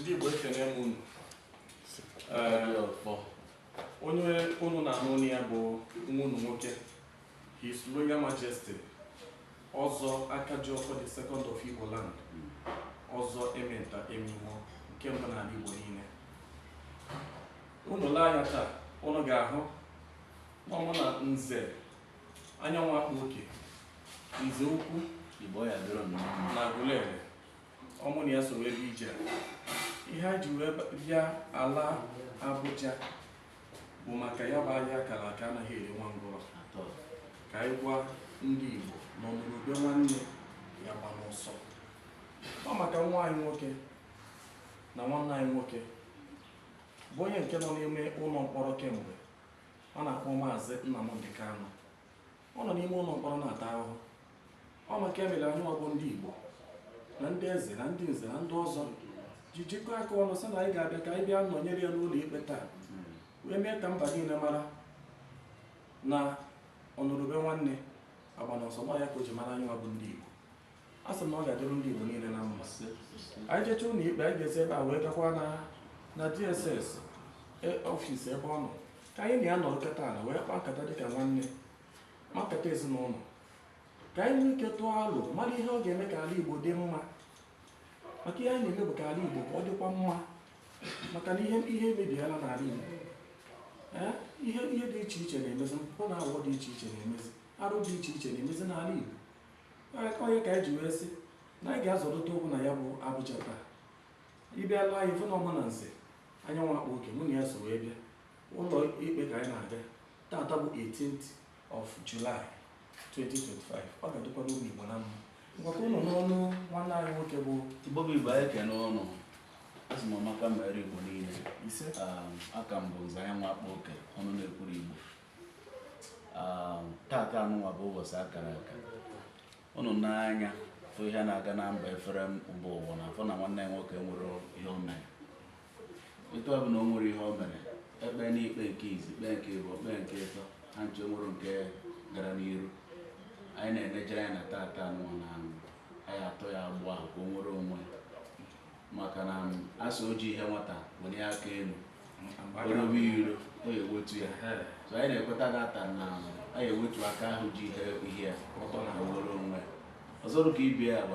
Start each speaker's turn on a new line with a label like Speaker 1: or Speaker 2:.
Speaker 1: ndị Igbo ekene m unu onye unu na-anụ olu ya bụ nwa unu nwoke His Royal Majesty ọzọ Akajiọfọ the second of Igbo land ọzọ Ementa Emeimo nke mbụ n'ala Igbo niile Unu lee anya taa, unu ga-ahụ na mụ na nze anyanwụ akpa oke nze ukwu na Agụleri ọ mụ na ya so wee bịa ije a ihe e ji wee bịa ala Abuja bụ maka ya bụ agha a kara aka anaghị eri nwa ngwụrọ ka anyị gwa ndị Igbo na ọnụrụ ube nwanne ya agbana ọsọ ọ maka nwa anyị nwoke na nwanne anyị nwoke bụ onye nke nọ n'ime ụlọ mkpọrọ kemgbe ọ na-akpọ maazị Nnamdị Kanụ ọ nọ n'ime ụlọ mkpọrọ na-ata ahụhụ ọ nke a mere anyị nwa bụ ndị Igbo na ndị eze na ndị nze na ndị ọzọ ji jikọọ aka ọnụ sị na anyị ga-abịa ka anyị bịa nọnyere ya n'ụlọ ikpe taa wee mee ka mba niile mara na ọnụrụ ube nwanne agbana ọsọ ọ ya ka o ji mara anyị nwa bụ ndị Igbo a sị m na ọ ga-adịrụ ndị Igbo niile na mma anyị jecha ụlọ ikpe anyị ga-esi ebe a wee gakwa na na DSS e- office ebe ọ nọ ka anyị na ya nọrọ kịta ala wee kpaa nkata dịka nwanne ma nkata ezinụlọ ka anyị nwee ike tụọ alo mara ihe ọ ga-eme ka ala Igbo dị mma maka ihe anyị na-eme bụ ka ala Igbo ka ọ dịkwa mma maka na ihe ihe emebiela n'ala Igbo Ee, ihe ihe dị iche iche na-emezi mpụ na awụwọ dị iche iche na-emezi arụ dị iche iche na-emezi n'ala Igbo ọ ya ka anyị ji wee sị na anyị ga-azọrịta ụkwụ na ya bụ Abuja taa ị bịa lee anya ị fụ na ọ mụ na nze anyanwụ akpa oke mụ na ya so wee bịa ụlọ ikpe ka anyị na-aga taata bụ 18th of July 2025 ọ ga-adịkwarụ ndị Igbo na mma ngwa ka unu nụ ọnụ nwanne anyị nwoke bụ Igbo bụ Igbo anyị ekene unu asị m ọmaka mere Igbo niile ise a ka m bụ nze anyanwụ akpa oke ọnụ na-ekwuru Igbo um, tata anụnwa bụ ụbọchị a kara aka unu nee anya fụ ihe na-aga na mba efere mba ụwa na-afụ na nwanne anyị nwoke enwerọ ihe o mere etu ọ bụ na o nwere ihe o mere e kpeena ikpe nke izi kpee nke ịbụọ kpee nke ịtọ ha ncha o nwerọ nke gara n'iru anyị na-enejide anya na tata anụnwa na a ya-atọ ya agbụ ahụ ka o nwere onwe ya maka na a sị o ji ihe nwata welie aka elu o robe iro ọ ga-ewetu ya so anyị na-ekweta tata na a ya-ewetu aka ahụ ji ihe ihe ya ọtọ na were onwe ọzọ ka ibe ya bụ